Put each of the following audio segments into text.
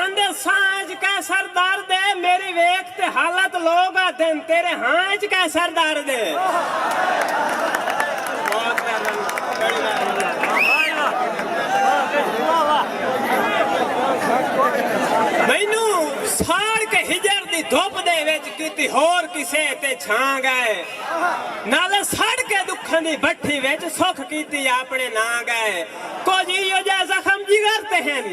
آندے ساں اج کئے سردار دے میری ویکھ تے حالت لوگ آدھن تیرے ہاں اج کئے سردار دے بہت پیار نال گاڑی لایا ہن اللہ مینوں ساڑ کے ہجر دی دھپ دے وچ کیتی ہور کسے تے چھاں گئے نالے سڑ کے دکھاں دی بٹھی وچ سکھ کیتی اپنے ناں گئے کجھ ایہو جئے زخم جگر تے ہن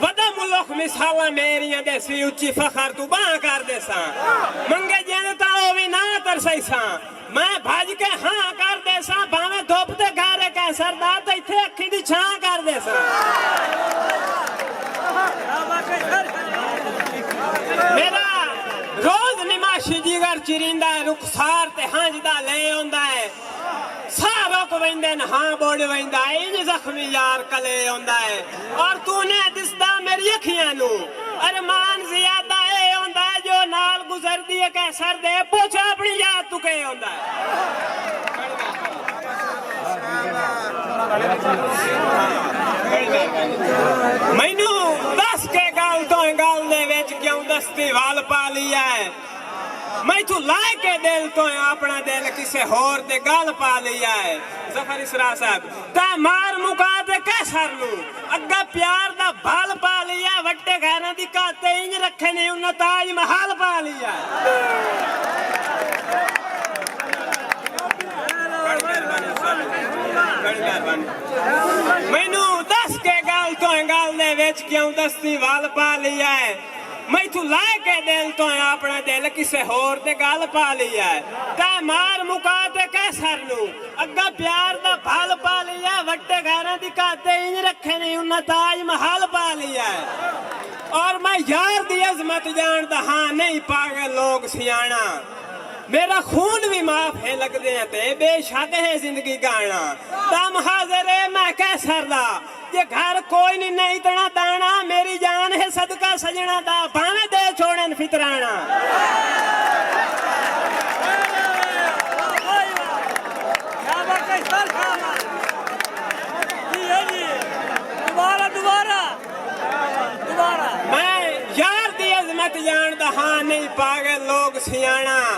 ودا ملخ مثالاں میریاں ڈیسی اچی فخر توں بانہہ کر ڈیساں منگے جیند تاں او وی نہ اتر سئیساں میں بھج کے ہاں کر ڈیساں بھانویں دھپ تے گہرے کینسر دا تاں اتھے اکھیں دی چھاں کر ڈیساں میڈا روز نماشی جگر چریندا ہے رخسار تے ہنجدا لے اوندا ہے۔ ساہ رک ویندن ہاں بڈ ویندا ہے انج زخمی یار کلے اوندا ہے اور تو نے دسدا میری اکھیاں نو ارمان زیادہ اے اوندا ہے جو نال گزردی اے کہہ سر دے پوچھ اپنی یاد تو کے اوندا ہے مینوں دس کے گل تو گل دے وچ کیوں دستی ول پا لیا ہے۔ میتھوں لائے کے دل توں آپنا دل کسے ہور دے گل پا لیا ہے ظفر اسرار صاحب تاں مار مکا تے کہہ سر نو اگا پیار دا بھل پا لیا ہے وٹے غیراں دی کا تے انج رکھے نیں انہاں تاج محل پا لیا ہے مینوں دس کے گل توں گل دے وچ کیوں دستی ول پا لیا ہے۔ میتھوں لائے کے دل توں اے آپنڑا دل کسے ہور دے گل پا لیا اے تے مار مکا تے قیصر نوں اگاں پیار دا بھل پا لیا اے وڈے غیراں دی گھت تے انج رکھے نئیں انہاں تاج محل پا لیا اے اور میں یار دی عظمت جانڑدا ہاں نئیں پاگل لوگ سیانڑا میرا خون وی معاف ہے لگدیاں تے بے شک ہے زندگی گانڑا تم حاضر اے میں قیصر دا۔ جے گھر کوئی نی نئیں تݨا داݨا میری جان ہے صدقہ سڄݨاں دا بھانویں ݙے چھوڑن فطراݨاں۔ میں یار دی عظمت ڄاݨدا ہاں نئیں پاڳل لوک سیاݨاں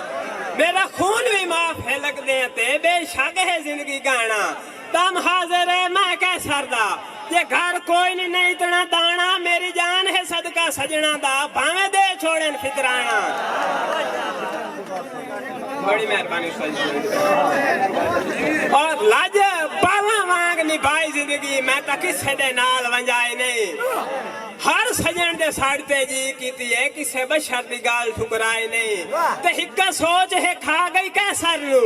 میݙا خون وی معاف ہے لڳدیں تے بے شک ہے زندگی ڳاݨاں۔ دم حاضر اے میں کہہ سردا جے گھر کوئی نی نئیں اتنا دانا میری جان ہے صدقہ سجناں دا بھانویں دے چھوڑن فطرانہ بڑی مہربانی استاد جی اور لج بالاں وانگ نبھائی زندگی میں تاں کسے دے نال ونجائی نہیں ہر سجن دے ساڑھ تے جی کیتی ہے کسے بشر دی گال ٹھکرائی نہیں تے ہکا سوچ ہے کھا گئی کیسر نو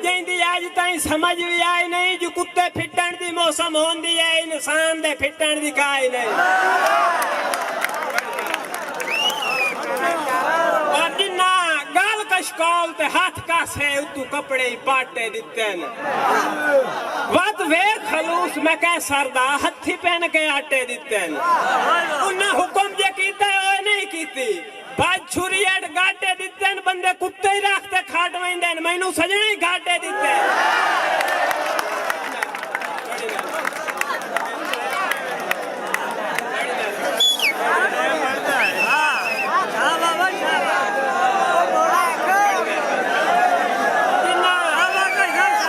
جئیں دی اڄ تائیں سمجھ وی آئی نئیں جو کتے پھٹݨ دی موسم ہوندی اے انسان دے پھٹݨ دی کا ای نئیں پر جنہاں گل کشکول تے ہتھ کاسے اتوں کپڑے ای پاٹے ݙتن ودھ ویکھ خلوص میں قیصر دا ہتھی پن کے آٹے ݙتن انہاں حکم جے کیتے او ای نئیں کیتی بھج چھری اڈ گاٹے ڈتن بندے کتے ہی رکھ تے کھڈ ویندن مینوں سجنڑ ہی گھاٹے ڈتن۔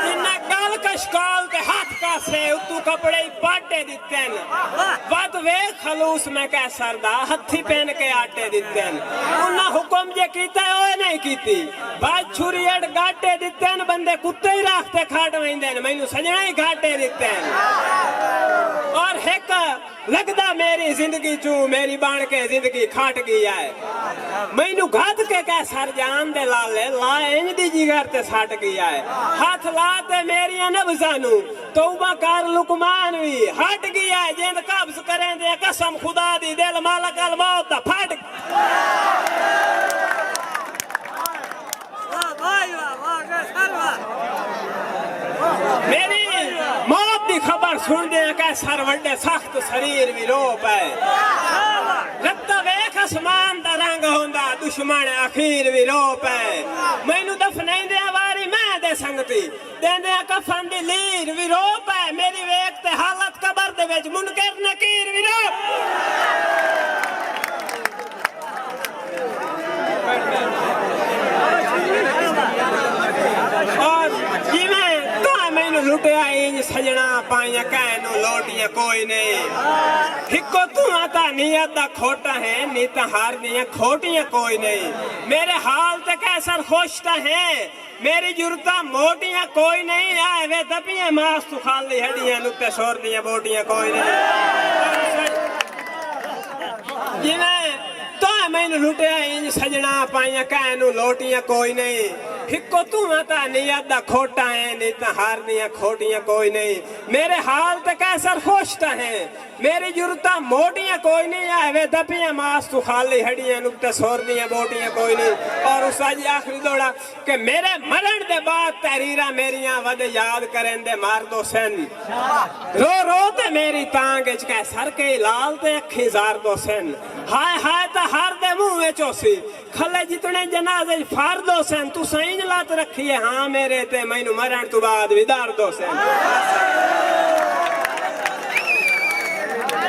انہاں گل کشکول تے ہتھ کاسے اتوں کپڑے ہی پاٹے ڈتے۔ کن ودھ ویکھ خلوص میں قیصر دا ہتھی پن کے آٹے ڈتن انہاں حکم جے کیتا ہے اوہ نئیں کیتی بھاج چھری اڈ گاٹے ڈتن بندے کتے ہی راکھ تے کھڈ ویندن مینوں سجناں ہی گھاٹے ڈتن اور ہک لگدا میری زندگی چوں میری بن کے زندگی کھٹ گی ہے مینوں گھد کے قیصر جان دے لالے لا انج دی جگر تے سٹ گی ہے ہتھ لا تے میریاں نبضاں نوں توبہ کر لقمان وی ہٹ گیا ہے جیند قبض کریندے ہیں قسم خدا دی دل ملک الموت دا پھٹ میری موت دی خبر سن دے ہیں کہ سر وڈے سخت سریر وی رو پائے رتہ ویخ اسمان دا رنگ ہوندا دشمن اخیر وی رو پائے میں نو دفنین دے آواری میں دے سنگتی دیندیاں کفن دی لیر وی رو پئے میݙی ویکھ تے حالت قبر دے وچ منکر نکیر وی رو اور جیویں تاں مینوں لٹیا اینج سجݨا پائیاں کہیں نوں لوٹیاں کوئی نہیں ہکو تواں تاں نیت دا کھوٹا ہیں نی تاں ہر دیاں کھوٹیاں کوئی نہیں میݙے حال تے قیصر خوش تاں ہیں میݙی جرتاں موٹیاں کوئی نئیں آئے وے دبیاں ماس توں خال دی ہڈیاں نکتے سور دیاں بوٹیاں کوئی نئیں جیویں تاں مینوں لٹیا انج سجنا پائیاں کہیں نوں لوٹیاں کوئی نئیں ہکو توں آں تاں نیت دا کھوٹا ہیں نیتاں ہار دیاں کھوٹیاں کوئی نئیں میݙے حال تے قیصر خوش تاں ہیں میݙی جرتاں موٹیاں کوئی نئیں آہ وے دپیاں ماس توں خالی ہݙیاں نکتے سر دیاں بوٹیاں کوئی نئیں اور اس دا جی آخری دوڑا کہ میݙے مرݨ دے بعد تحریراں میݙیاں وݙے یاد کریندے مار دو سن رو رو تے میݙی تانگھ اچ کہہ سر کئی لال تے اکھیں زار دو سن ہائے ہائے تاں ہر دے منہ اچ ہوسی کھلے جتنے جنازے اچ فرد ہوسن تساں انج لت رکھی اے ہاں میرے تے مینوں مرݨ توں بعد وی درد ہوسن۔